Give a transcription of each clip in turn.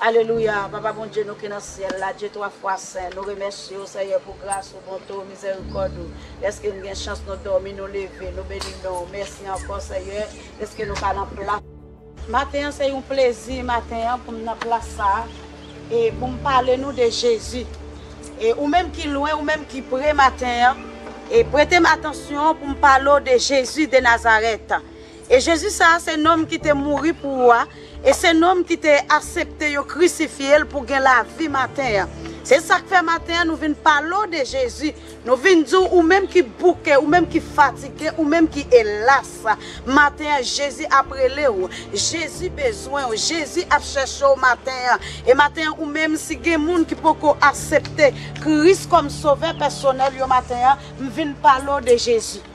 Alelouya papa Bondye nou ki nan syèl la Dye 3 fwa sen nou remèsye ou Senyè pou gras ou bonte ou mizèrikòd ou dèske n gen chans nou dòmi nou leve nou beni non ou mèsi ankò Senyè dèske nou ka nan plas Maten an se yon plezi maten an pou m nan plas sa a e pou m pale nou de Jezi e ou menm ki lwen ou menm ki pre maten an e prete m atansyon pou m pale w de Jezi de Nazarèt. E Jezi sa a se nonm ki te mouri pou ou a, e se nonm ki te asepte yo krisifye l pou gen lavi maten an. Se sa k fè maten an nou vin pale w de Jezi, nou vin di w ou menm ki bouke, ou menm ki fatige, ou menm ki elas, maten an Jezi ap rele w, Jezi bezwen w, Jezi ap chèche w maten an. E maten an ou menm si gen moun ki poko asepte Kris kòm sovè pèsonèl yo maten an, m vin pale w de Jezi.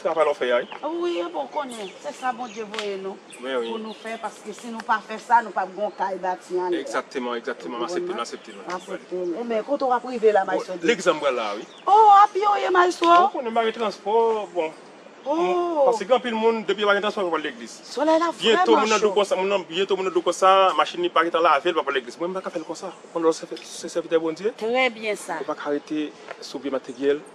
Travay la ou fè ya wi. Wi e bon konnen se sa Bondye voye nou pou nou fè paske si nou pa fè sa nou pap gon kay bati anlè. Egzakteman egzakteman m asepte m asepte m asepte. Ou men kote wap rive la maestro Dave. Legliz la m pral la wi. Oh a pye ou ye maestro. Ou konnen m pa gen transpò bon paske gen anpil moun depi yo pa gen transpò yo pa pral legliz. Solèy la vrèman cho. Byento moun nan dlo konsa moun nan byento moun nan dlo konsa machin li pa gentan lave l pa pral legliz mwen m paka fè l konsa ou konnen lè w se sèvitè Bondye. Trè byen sa. Ou paka rete sou vye materyèl.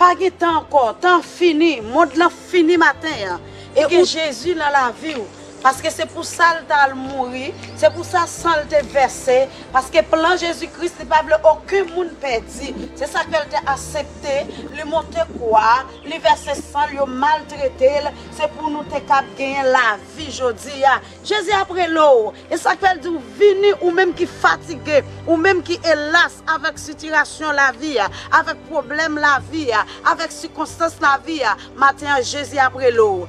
Pa gen tan ankò, tan an fini, mond lan fini maten an e gen Jezi nan laviw paske se pou sal ta al mouri, se pou sa sanl te vèse paske plan Jezi Kris li pa vle oken moun pèdi se sak fèl te asepte li monte kwa li vèse sanl yo maltretel se pou nou te kab genyen lavi jodi a Jezi ap rele w. E sak fèl di ou vini ou menm ki fatige, ou menm ki elas avèk sitirasyon lavi a, avèk pwoblèm lavi a, avèk sikonstans lavi a, maten an Jezi ap rele w.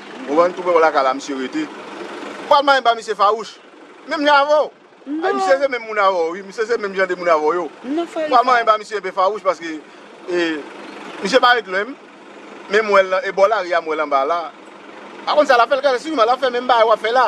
Ou wè m tou wè lakay la misye rete. Ou pral manyen ba misye fawouch. Menm jan avè w. Ay misye se menm moun avè w wi. Misye se menm jan de moun avè w yo. Ou pral manyen ba misye enpe fawouch paske e misye pa ret lwen m. Men m wè l nan e bò lari a m wè l anba la. Pa konn sa l ap fè l ka siman l ap fè menm bagay w ap fè la.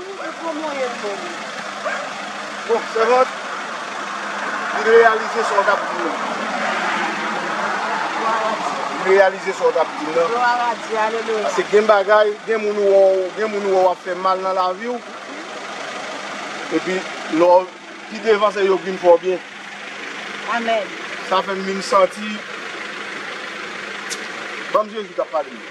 Mwen pran mwayenn non mwen. Bon sèvant li reyalize sa w tap di nan. Glwa a Dye. Li reyalize sa w tap di nan. Glwa a Dye alelouya. Pase gen bagay gen moun ou wè w gen moun ou wè wap fè mal nan lavi w epi lè w pi devan se yo k vin fè w byen. Amen. Sa fè m vin santi. Banm Jezi kap pale.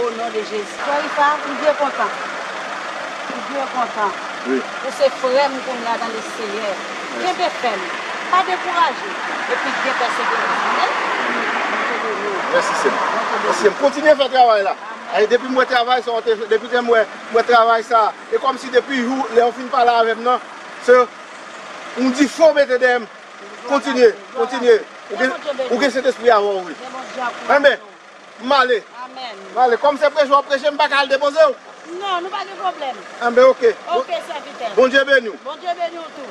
O non de jezi. Frè Rica m byen kontan m byen kontan ou se frè m kounya nan le seyè kenbe fèm pa dekouraje epi gen pèseverans ok Bondye beni w Mèsi sèm Mèsi sèm kontinye fè travay la Ayi depi m wè travay sa w te fè depi m wè travay sa e kòm si depi jou lè ou fin pale avèm nan se yon difo ou mete dèyè m kontinye kontinye ou gen sentespri a avè w wi Amen. M ale. Amen. M ale. Kòm se preche w ap preche, m pa ka al depoze w? Non, nou pa gen pwoblèm. Enben ok. Ok sèvitè. Bondye beni w. Bondye beni w tou.